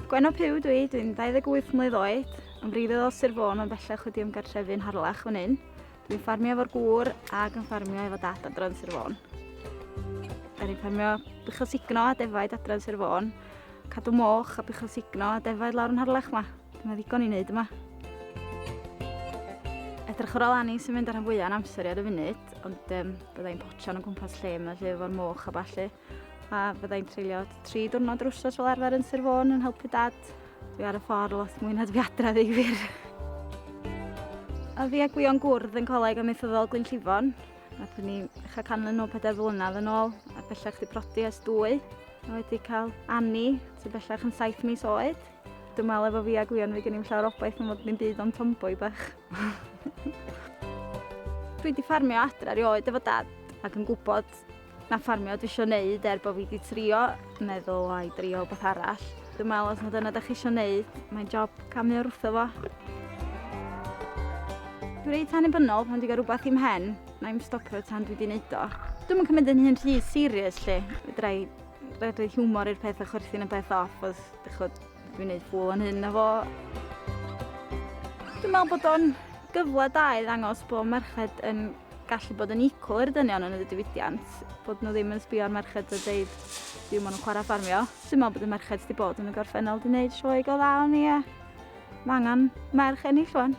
Gwenno Puw dwi, dwi'n 28 mlynedd oed, yn wreiddiol o Sir Fôn ond bellach wedi ymgartrefu yn Harlech fan hyn. Dwi'n ffarmio efo'r gŵr ac yn ffarmio efo dad adran Sir Fôn. Da ni'n ffarmio buchel signo a defaid adran Sir Fôn, cadw moch a buchel signo a defaid lawr yn Harlech yma. Dyna ddigon i wneud yma. Edrych ar ôl Annie sy'n mynd ar rhan fwyaf yn amser i ar y funud, ond um, byddai'n potsian o gwmpas lle yma lle efo'r moch a ballu. A byddai'n treulio tri diwrnod yr wsos fel arfer yn Sir Fôn yn helpu dad. Dwi ar y ffordd lot mwy na dwi adra ddi wir. A fi a Gwion gwrdd yn coleg amaethyddol Glyn Llifon. Nath ni eich canlyn nhw pedair flynedd yn ôl, a bellach di prodi ys dwy. A wedi cael Annie, sy'n bellach yn saith mis oed. Dwi'n meddwl efo fi a Gwion fi gen i'n llawer obaith yn fod ni'n byd o'n tomboy bach. Dwi wedi ffarmio adra rioed efo dad ac yn gwybod na ffarmio dwi eisiau neud er bod fi wedi trio meddwl ai drio beth arall. Dwi'n meddwl os mae dyna da chi eisiau neud, mae'n job camu o'r wrtho fo. Dwi'n reit annibynnol pan dwi'n gael rhywbeth i'm hen, na i'm stopio tan dwi wedi neud o. Dwi'n mynd cymryd yn hyn rhy serious lle. Fydra i redeg hiwmor i'r peth a chwerthin y peth off. Chod, dwi'n neud pool o'n hyn na fo. Dwi'n meddwl bod o'n gyfle da i ddangos bod merched yn gallu bod yn equal i'r dynion yn y diwydiant, bod nhw ddim yn sbio ar merched a dweud ddim maen nhw'n chwarae ffarmio. Dwi'n meddwl bod y merched wedi bod yn y gorffennol wedi gwneud sioe go dda o'n i a mae angen merch ennill rwan.